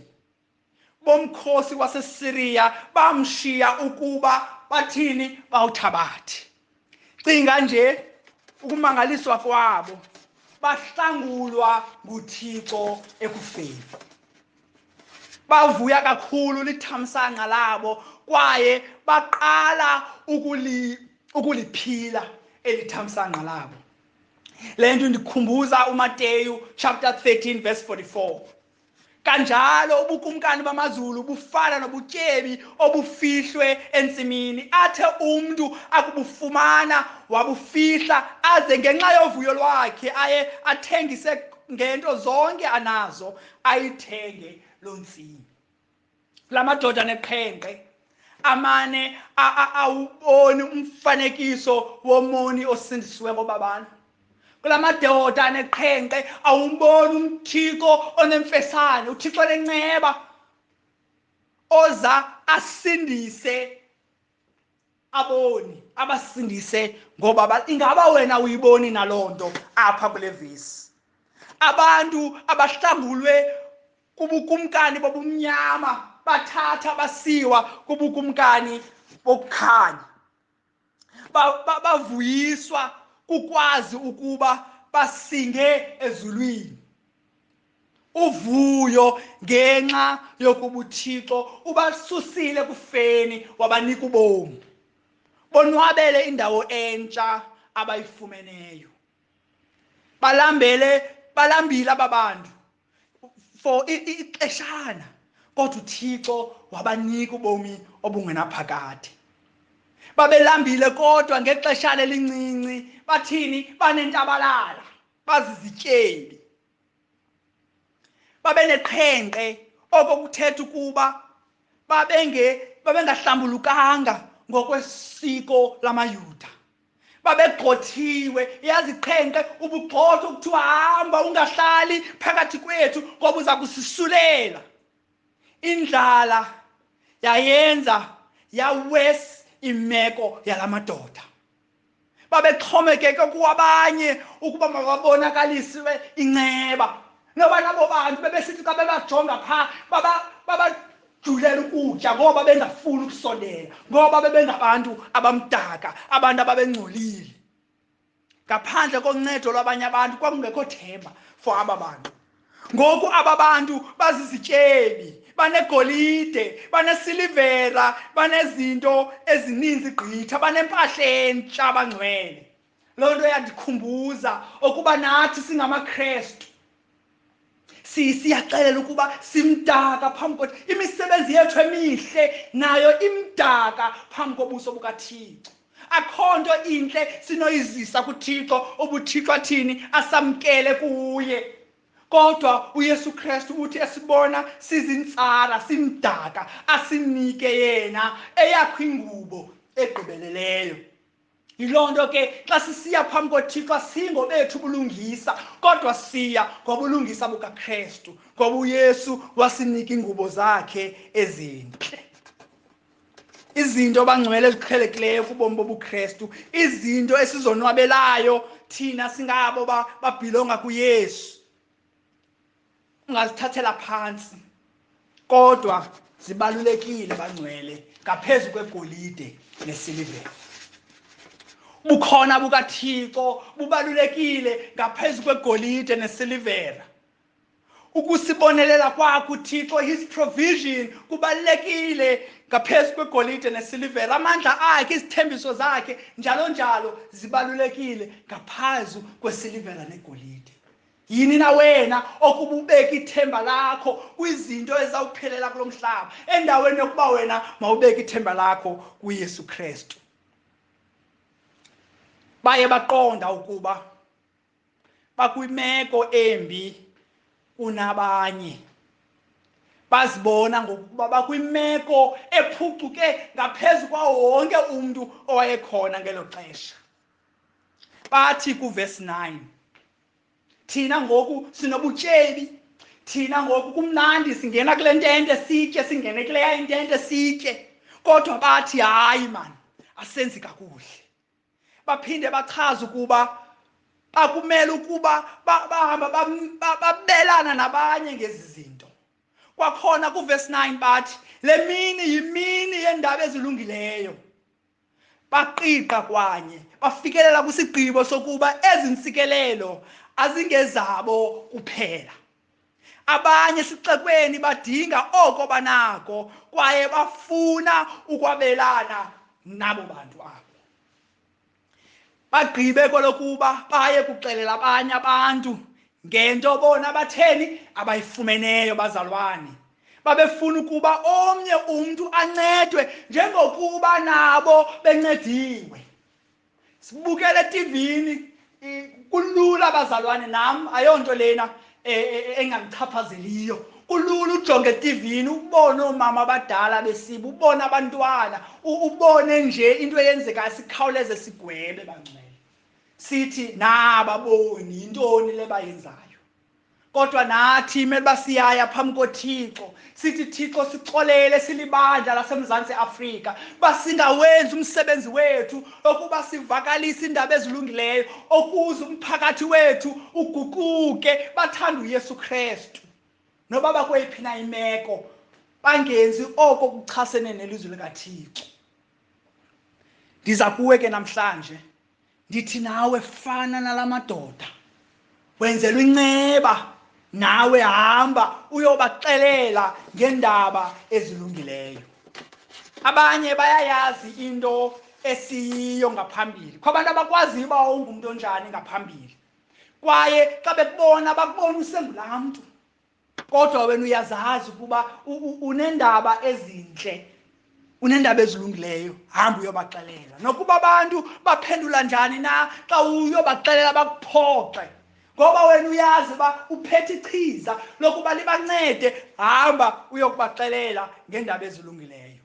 bomkhosi waseSiriya bamshiya ukuba bathini bawuthabathi cinga nje ukumangaliswa kwabo bahlangulwa nguThixo ekufeni bavuya kakhulu lithamsanqa labo kwaye baqala ukuli ukuliphila elithamsanqa labo le nto ndikhumbuza umateyu chapter 13 verse 44 kanjalo ubukumkani bamazulu bufana nobutyebi obufihlwe entsimini athe umntu akubufumana wabufihla aze ngenxa yovuyo lwakhe aye athengise ngento zonke anazo ayithenge loo ntsimi la madoda neqhenqe amane awuboni umfanekiso womoni osindisiweko babana kula madoda aneqhenqe awumboni umthixo onemfesane uthixo lenceba oza asindise aboni abasindise ngoba ingaba wena uyiboni naloo nto apha kule vesi abantu abahlangulwe kubukumkani bobumnyama bathatha basiwa kubukumkani bokukhanya bavuyiswa kukwazi ukuba basinge ezulwini uvuyo ngenxa yokuba uthixo ubasusile kufeni wabanika ubomi bonwabele indawo entsha abayifumeneyo balambele balambile aba bantu for ixeshana kodwa uthixo wabanika ubomi obungenaphakade babelambile kodwa ngexeshana elincinci bathini banentabalala bazizityebi babeneqhenqe oko kuthetha ukuba babenge babengahlambulukanga ngokwesiko lamayuda babegxothiwe yaziqhenqe ubugxotho kuthiwa hamba ungahlali phakathi kwethu ngoba uza kusisulela indlala yayenza yawesi imeko yala madoda babexhomekeke kuwabanye ukuba mababonakalisiwe inceba noba nabo bantu bebesithi xa bebajonga phaa babajulela ukutya ngoba bengafuni ukusondela ngoba bebengabantu abamdaka abantu ababengcolile ngaphandle koncedo lwabanye abantu kwakungekho themba for aba bantu ngoku aba bantu bazizityebi banegolide banesilivera banezinto ezininzi gqitha banempahla entsha abangcwele loo nto yandikhumbuza ukuba nathi singamakrestu siyaxelela ukuba simdaka phambi kothi imisebenzi yethu emihle nayo imdaka phambi kobuso bukathixo akho nto intle sinoyizisa kuthixo ubuthixo athini asamkele kuye kodwa uyesu kristu uthi esibona sizintsala simdaka asinike yena eyakho ingubo egqibeleleyo yiloo nto ke xa sisiya phambi kothixo asingo bethu ubulungisa kodwa siya ngobulungisa bukakristu ngoba uyesu wasinika iingubo zakhe ezintle izinto abangcwele eziqhelekileyo kubomi bobukrestu izinto esizonwabelayo thina singabo babhilonga kuyesu ungazithathela phantsi kodwa zibalulekile bangcwele ngaphezu kwegolide nesilivere bukhona bukathixo bubalulekile ngaphezu kwegolide nesilivera ukusibonelela kwakho uthixo his provision kubalulekile ngaphezu kwegolide nesilivela amandla akhe izithembiso zakhe njalo njalo zibalulekile ngaphezu kwesilivela negolide yini na wena okuba ubeke ithemba lakho kwizinto ezawuphelela kulo mhlaba endaweni yokuba wena mawubeke ithemba lakho kuyesu kristu baye baqonda ukuba bakwimeko embi kunabanye bazibona ngokuba bakwimeko ephucuke ngaphezu kwawo wonke umntu owayekhona ngelo xesha bathi kuvesi 9 thina ngoku sinobutyebi thina ngoku kumnandi singena kule ntente sitye singene kuleya intente sitye kodwa bathi hayi mani asenzi kakuhle baphinde bachaza ukuba bakumele ukuba bahamba babelana nabanye ngezi zinto kwakhona kuvesi 9 bathi le mini yimini yendaba ezilungileyo baqiqa kwanye bafikelela kwisigqibo sokuba ezi ntsikelelo azingezabo kuphela abanye esixekweni badinga oko banako kwaye bafuna ukwabelana nabo bantu abo bagqibe kwelokuba baye kuxelela abanye abantu ngento bona batheni abayifumeneyo bazalwane babefuna ukuba omnye umntu ancedwe njengokuba nabo bencediwe sibukele etivini kulula abazalwane nam ayonto lena e, e, e, engandichaphazeliyo kulula ujonge etivini ubone oomama abadala besiba ubone abantwana ubone nje into eyenzekayo sikhawuleze sigwebe bangcwele sithi nababoni yintoni le bayenzayo kodwa nathi imele uba siyaya phambi kothixo sithi thixo sixolele silibandla lasemzantsi afrika uba singawenzi umsebenzi wethu okuba sivakalise iindaba ezilungileyo okuze umphakathi wethu uguquke bathanda uyesu krestu noba bakweyiphi na imeko bangenzi oko kuchasene nelizwi likathixo ndiza kuwe ke namhlanje ndithi nawe fana nala madoda wenzelwa inceba nawe hamba uyobaxelela ngeendaba ezilungileyo abanye bayayazi into esiyiyo ngaphambili kwabantu abakwaziyo uba ungumntu onjani ngaphambili kwaye xa bekubona bakubona usengulaa mntu kodwa wena uyazazi ukuba unendaba ezintle unendaba ezilungileyo hamba uyobaxelela nokuba abantu baphendula njani na xa uyobaxelela bakuphoxe ngoba wena uyazi uba uphethe ichiza lokuba libancede hamba uyokubaxelela ngeendaba ezilungileyo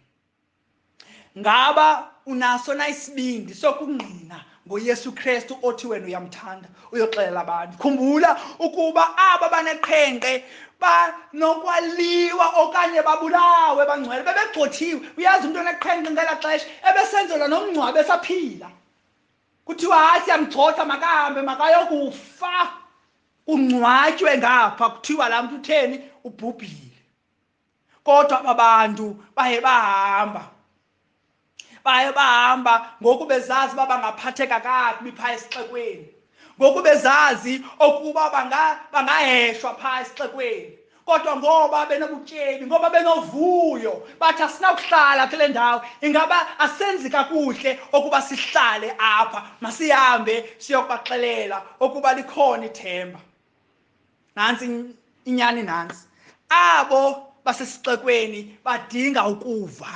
ngaba unaso na isibindi sokungqina ngoyesu kristu othi wena uyamthanda uyoxelela abantu khumbula ukuba aba baneqhenqe banokwaliwa okanye babulawe bangcwele bebegxothiwe uyazi umntu oneqhenqe ngela xesha ebesenzelwa nomngcwabe esaphila kuthiwa hayi siyamgxotha makahambe makayokufa kungcwatywe ngapha kuthiwa laa mntu utheni ubhubhile kodwa aba bantu baye bahamba baye bahamba ngoku bezazi uba bangaphatheka kakubi phaa esixekweni ngoku bezazi okuba bangaheshwa phaa esixekweni kodwa ngoba benobutyebi ngoba benovuyo bathi asinakuhlala kule ndawo ingaba asenzi kakuhle okuba sihlale apha masihambe siyokubaxelela okuba likhona ithemba nantsi inyani nantsi abo basesixekweni badinga ukuva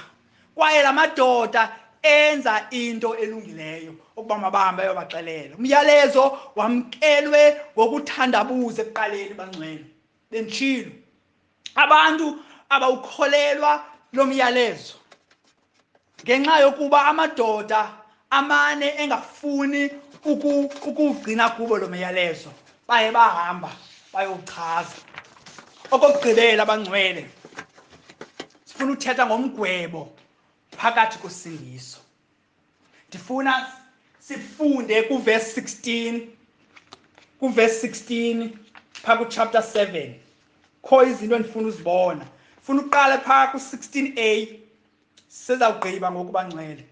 kwaye la madoda enza into elungileyo ukuba mabahambe ayobaxelela umyalezo wamkelwe ngokuthandabuza ekuqaleni bangcwele bendishilo abantu abawukholelwa lo myalezo ngenxa yokuba amadoda amane engafuni ukuwugcina kubo lo myalezo baye bahamba bayowuchaza okokugqibela abangcwele sifuna uthetha ngomgwebo phakathi kosindiso ndifuna sifunde kuvesi 16 kuvesi 16 phaa kuchapter 7 kho izinto endifuna uzibona funa uqale phaa ku-16 a sizawugqiba ngokubanxele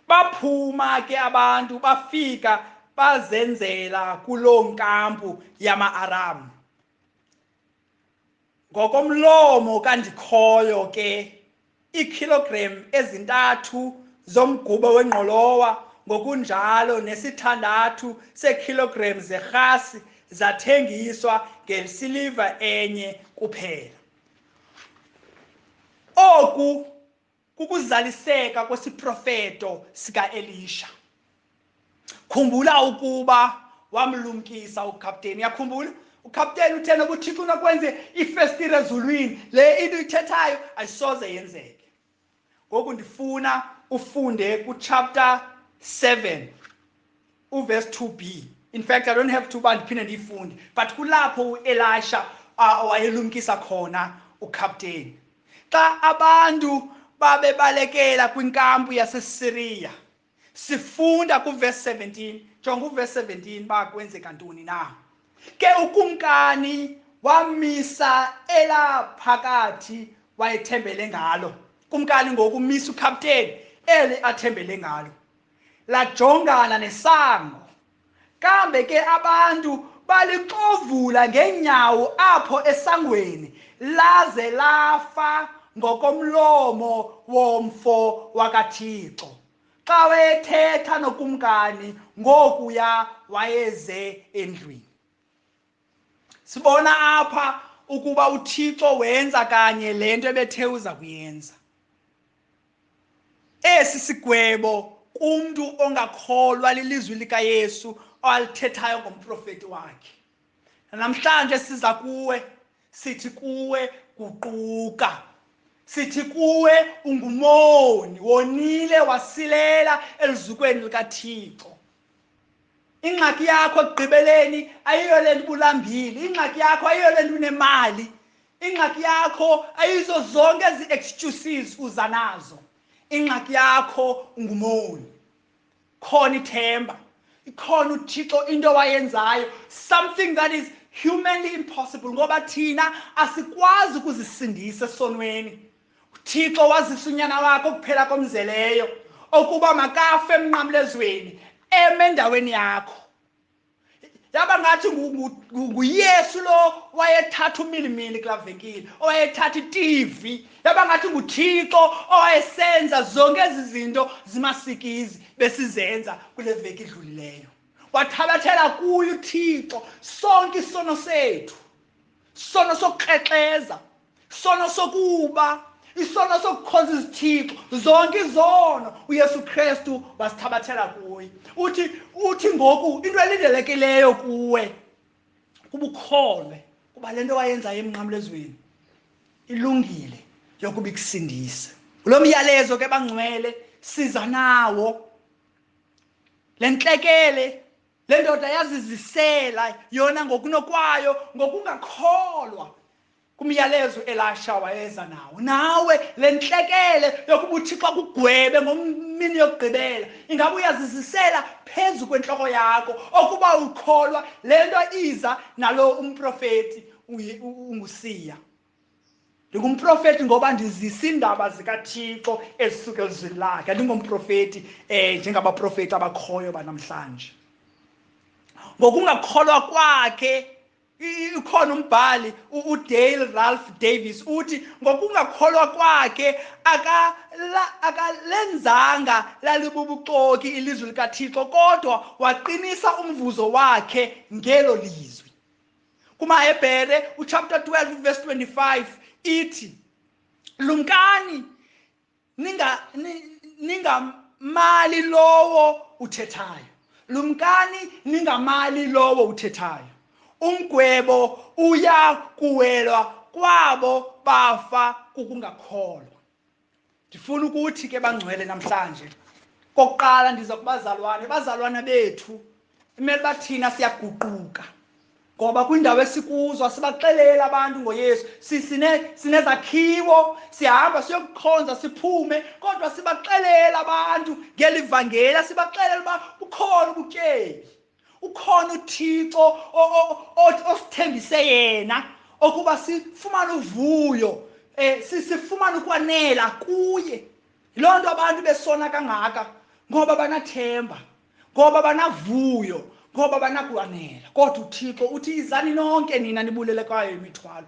baphuma ke abantu bafika bazenzela kuloo nkampu yama-aramu ngokomlomo kandikhoyo ke iikhilogram ezintathu zomgubo wengqolowa ngokunjalo nesithandathu seekhilogram zerhasi zathengiswa ngesiliva enye kuphela oku kukuzaliseka kwesiprofeto sikaElisha khumbula ukuba wamlumkisa ukapteni yakhumbula ukapteni uthena kuthixo unakwenze ifestire ezulwini le into uyithethayo ayisoze yenzeke ngoku ndifuna ufunde kuchapter 7 uverse 2b in fact i don't have to uba ndiphinde ndiyifunde but kulapho uelisha uh, wayelumkisa khona ukapteni xa abantu babebalekela kwinkampu yasesiriya sifunda kuverse 17 jonga uverse 17 uba kwenzeka ntoni na ke ukumkani wamisa elaphakathi wayethembele ngalo kumkani ngokumisa ukapteni eli athembele ngalo lajongana nesango kambe ke abantu balixovula ngeenyawo apho esangweni laze lafa ngokomlomo womfo wakathixo xa wayethetha nokumkani ngokuya wayeze endlwini sibona apha ukuba uthixo wenza kanye le nto ebethe uza kuyenza esi sigwebo kumntu ongakholwa lilizwi likayesu alithethayo ngomprofeti wakhe namhlanje siza kuwe sithi kuwe guquka sithi kuwe ungumoni wonile wasilela elizukweni likathixo ingxaki yakho ekugqibeleni ayiyo le nto ubulambile ingxaki yakho ayiyo le nto unemali ingxaki yakho ayizo zonke ezi excuses uza nazo ingxaki yakho ungumoni khona ithemba ikhona uthixo into wayenzayo something that is humanly impossible ngoba thina asikwazi ukuzisindisa esonweni uthixo wazisa unyana wakhe ukuphela komzeleyo okuba makafe emnqamlezweni eme endaweni yakho yaba ngathi nguyesu lo wayethatha umilimili kula venkile owayethatha itivi yaba ngathi nguthixo owayesenza zonke ezi zinto zimasikizi besizenza kule veki idlulileyo wathabathela kuyo uthixo sonke isono sethu sono sokukrexeza sono sokuba isono sokukhonza izithixo zonke izono uyesu kristu wasithabathela kuye uthi uthi ngoku into elindelekileyo kuwe kubukholwe kuba le nto wayenzayo emnqamlezweni ilungile yokuba ikusindise kulo myalezo ke bangcwele siza nawo le ntlekele le ndoda yazizisela yona ngokunokwayo ngokungakholwa kumyalezo elasha wayeza nawo nawe le ntlekele yokuba uthixo kugwebe ngomini yokugqibela ingaba uyazizisela phezu kwentloko yakho okuba ukholwa le nto iza nalo umprofeti ungusiya ndingumprofeti ngoba ndizisa iindaba zikathixo ezisuke elizwini lakhe andingomprofeti um eh, njengabaprofeti abakhoyo banamhlanje ngokungakholwa kwakhe Ukhona umbhali uDale Ralph Davis uthi ngokungakholwa kwakhe akalenzanga lalibubuxoki ilizwi likaThixo kodwa waqinisa umvuzo wakhe ngelo lizwi. KumaHebhere uchapter 12 verse 25 ithi lumkani ningamali lowo uthethayo lumkani ningamali lowo uthethayo umgwebo uya kuwelwa kwabo bafa kukungakholwa ndifuna ukuthi ke bangcwele namhlanje kokuqala ndiza kubazalwane bazalwana bethu imele uba thina siyaguquka ngoba kwindawo esikuzo sibaxelela abantu ngoyesu sinezakhiwo sihamba siyokukhonza siphume kodwa sibaxelela abantu ngeli vangela sibaxelela uba ukhona ubutyebi ukhona uthixo osithembise yena okuba sifumane uvuyo um sifumane ukwanela kuye yiloo nto abantu besona kangaka ngoba banathemba ngoba banavuyo ngoba banakwanela kodwa uthixo uthi izani nonke nina nibulele kwayo imithwalo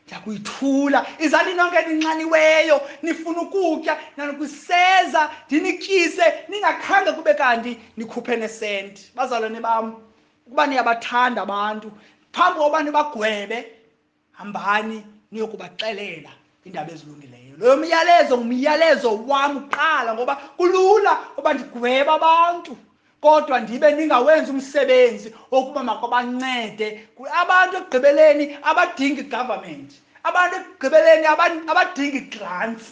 ndiyakuyithula izani nonke ninxaniweyo nifuna ukutya nanokwiseza ndinityise ningakhange kube kanti nikhuphe nesenti bazalwane bam ukuba niyabathanda abantu phambi kokuba nibagwebe hambani niyokubaxelela iindaba ezilungileyo loyo myalezo ngumyalezo wam kuqala ngoba kulula uba ndigweba abantu kodwa ndibe ndingawenzi umsebenzi wokuba makwabancede abantu ekugqibeleni abadingi government abantu ekugqibeleni abadingi grants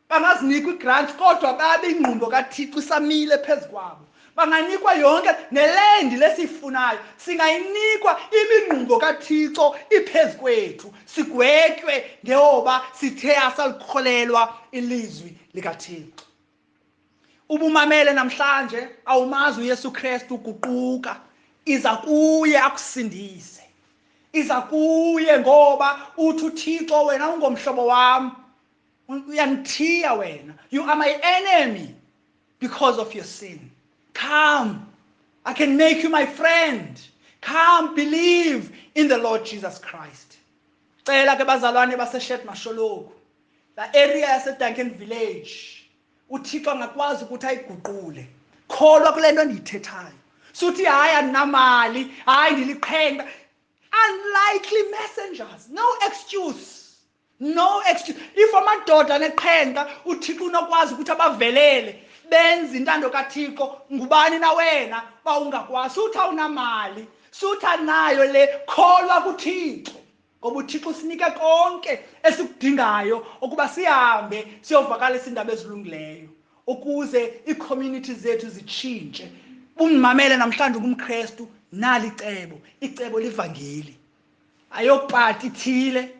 bangazinikwa igrants kodwa babe ingqumbo kathixo isamile phezu kwabo banganikwa yonke nelendi lesiyifunayo singayinikwa imingqumbo kathixo iphezu kwethu sigwetywe ngeoba sithe asalikholelwa ilizwi likathixo ubumamele namhlanje awumazi uyesu kristu uguquka iza kuye akusindise iza kuye ngoba uthi uthixo wena ungomhlobo wam uyangithiya wena you are my enemy because of your sin come i can make you my friend come believe in the lord jesus christ cela ke bazalwane baseshed masholoku la area yasedanken village uthixo angakwazi ukuthi ayiguqule kholwa kule nto endiyithethayo suthi hayi andinamali hayi ndiliqhenqa unlikely messengers no excuse no excuse if amadoda neqhenqa uthixo unokwazi ukuthi abavelele benze intando kathixo ngubani na wena uba ungakwazi uthi awunamali suthi anayo le kholwa kuthixo ngoba uthixo usinike konke esikudingayo ukuba sihambe siyovakalisa iindaba ezilungileyo ukuze iicommunity zethu zitshintshe bungimamele namhlanje ungumkrestu nali icebo icebo livangeli ayopati ithile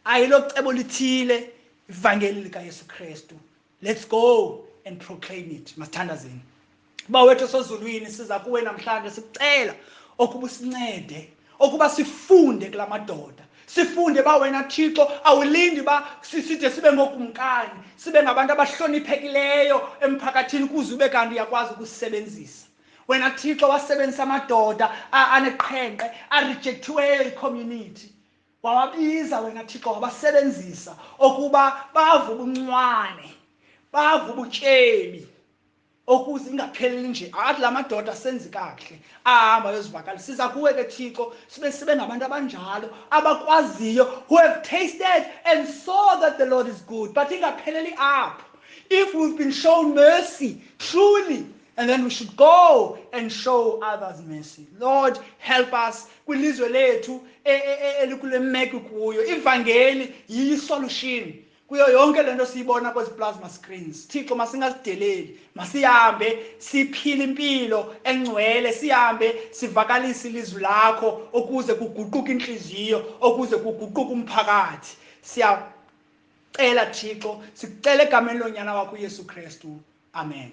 ayilocebo lithile ivangeli likayesu kristu let's go and proclaim it masithandazeni uba wethu osezulwini siza kuwe namhlanje sicela okuba usincede okuba sifunde kula madoda sifunde ba wena thixo awulindi ba siside sibe ngokumkani sibe ngabantu abahloniphekileyo emphakathini kuze ube kanti uyakwazi ukusisebenzisa wena thixo wasebenzisa amadoda aneqhenqe arejektiweyo icommunity wawabiza wena thixo wabasebenzisa okuba bava ubuncwane bava ubutyebi okuze ingapheleli nje athi la madoda senzi kakuhle ahamba yozivakala siza kuwe ke thixo sibe sibe ngabantu abanjalo abakwaziyo who have tasted and saw that the lord is good but ingapheleli apho if we've been shown mercy truly And then we should go and show others mercy. Lord, help us kwilizwe lethu e, e, e, elikule meko kuyo. Ivangeli yisolution kuyo yonke lento siyibona kwezi plasma screens. Thixo masingasideleli, masihambe siphile impilo engcwele, sihambe sivakalise ilizwi lakho ukuze kuguquke inhliziyo, ukuze kuguquke umphakathi. Siya cela thixo sicela egameni lonyana wakho uyesu kristu amen